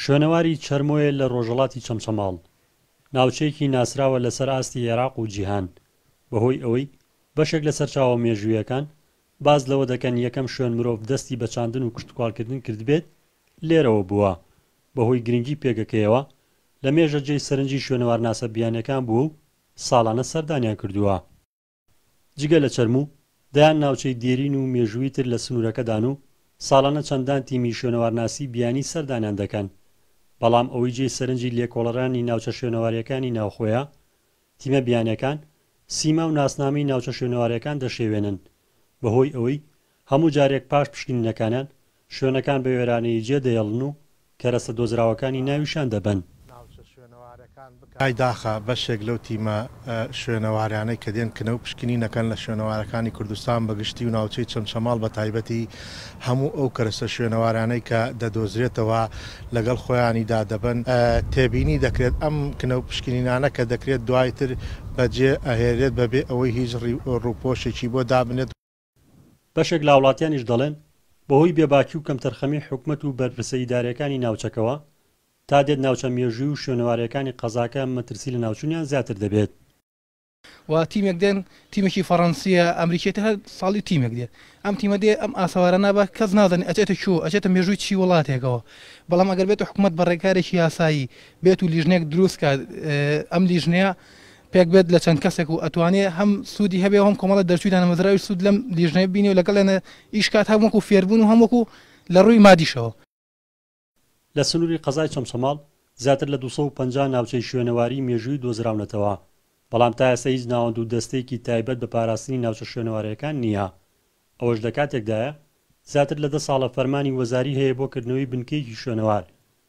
شوێنەواری چەرمۆیە لە ڕۆژەڵاتی چەمچەماڵ، ناوچەیەکی ناسراوە لەسەر ئاستی ئێراق و جیهان، بەهۆی ئەوەی بەشێک لە سەرچاوە مێژوویەکان باس لەوە دەکەن یەکەم شوێن مرۆڤ دەستی بە چاندن و کشتوکاڵکردن کردبێت لێرەوە بووە، بەهۆی گرنگی پێگەکەیەوە لەمێژە جێی سەرنجی شوێنەوارناسە بیانیەکان بووە و ساڵانە سەردانیان کردووە. جگە لە چەرموو، دەیان ناوچەی دێرین و مێژووی تر لە سنوورەکەدان و ساڵانە چەندان تیمی شوێنەوارناسی بیانی سەردانیان دەکەن، بەڵام ئەوەی جێی سەرنجی لێکۆڵەرانی ناوچە شوێنەوارییەکانی ناوخۆیە، تیمە بیانییەکان سیما و ناسنامەی ناوچە شوێنەوارییەکان دەشێوێنن، بەهۆی ئەوەی هەموو جارێک پاش پشکنینەکانیان شوێنەکان بە وێرانەیی جێ دەهێڵن و کەرەستە دۆزراوەکانی ناویشان دەبەن. ناوچە شوێنەوارەکان بکە. ئای داخە بەشێک لەو تیمە شوێنەوارانەی کە دێن کنە و پشکنینەکەن لە شوێنەوارەکانی کوردستان بە گشتی و ناوچەی چەمچەماڵ بە تایبەتی هەموو ئەو کەرەستە شوێنەوارانەی کە دەدۆزرێتەوە لەگەڵ خۆیانیدا دەبەن، تێبینی دەکرێت ئەم کنە و پشکنینانە کە دەکرێت دوای تر بە جێ ئەهێلرێت بە بێ ئەوەی هیچ ڕووپۆشێکی بۆ دابنێت، بەشێک لاوڵاتیانیش دەڵێن، بەهۆی بێباکی و کەمتەرخەمی حکومەت و بەرپرسە ئیدارییەکانی ناوچەکەوە، تا دێت ناوچە مێژووی و شوێنەوارەیەکانی قەزاکە مەترسی لەناوچوونیان زیاتر دەبێت. و تیمێک دێن تیمێکی فەڕەنسیە ئەمریکیە تە هەر ساڵی تیمێک دێت ئەم تیمە دێ ئەم ئاسەوارە نابا کەس نازانی ئەچێتە کوێ ئەچێتە مێژووی چی وڵاتێکەوە بەڵام ئەگەر بێتە حکومەت بە ڕێکارێکی یاسایی بێت و لیژنێک دروست کات ئەم لیژنەیە پێک بێت لە چەند کەسێک و ئەتوانێ هەم سوودی هەبێ و هەم کۆمەڵە دەرچووی دانەمەزراویش سوود لەم لیژنەیە ببینێ و لەگەڵ یانە ئیش کات هەم وەکوو فێربوون و هەم وەکوو لە ڕووی مادیشەوە. لە سنووری قەزای چەمچەماڵ زیاتر لە دوو سەد و پەنجا ناوچەی شوێنەواری مێژوویی دۆزراونەتەوە، بەڵام تا ئێستا هیچ ناوەند و دەستەیەکی تایبەت بە پاراستنی ناوچە شوێنەوارەیەکان نییە. ئەوەش لە کاتێکدایە زیاتر لە دە ساڵە فەرمانی وەزاری هەیە بۆ کردنەوەی بنکەیەکی شوێنەوار،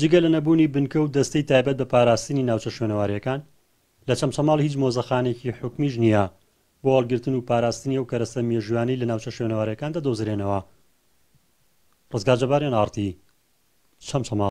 جگە لە نەبوونی بنکە و دەستەی تایبەت بە پاراستنی ناوچە شوێنەوارییەکان، لە چەمچەماڵ هیچ مۆزەخانەیەکی حکومیش نییە بۆ هەڵگرتن و پاراستنی ئەو کەرەستە مێژوویانەی لە ناوچە شوێنەوارەکان دەدۆزرێنەوە. ڕزگار جەباریان ئاڕتی، چەمچەماڵ.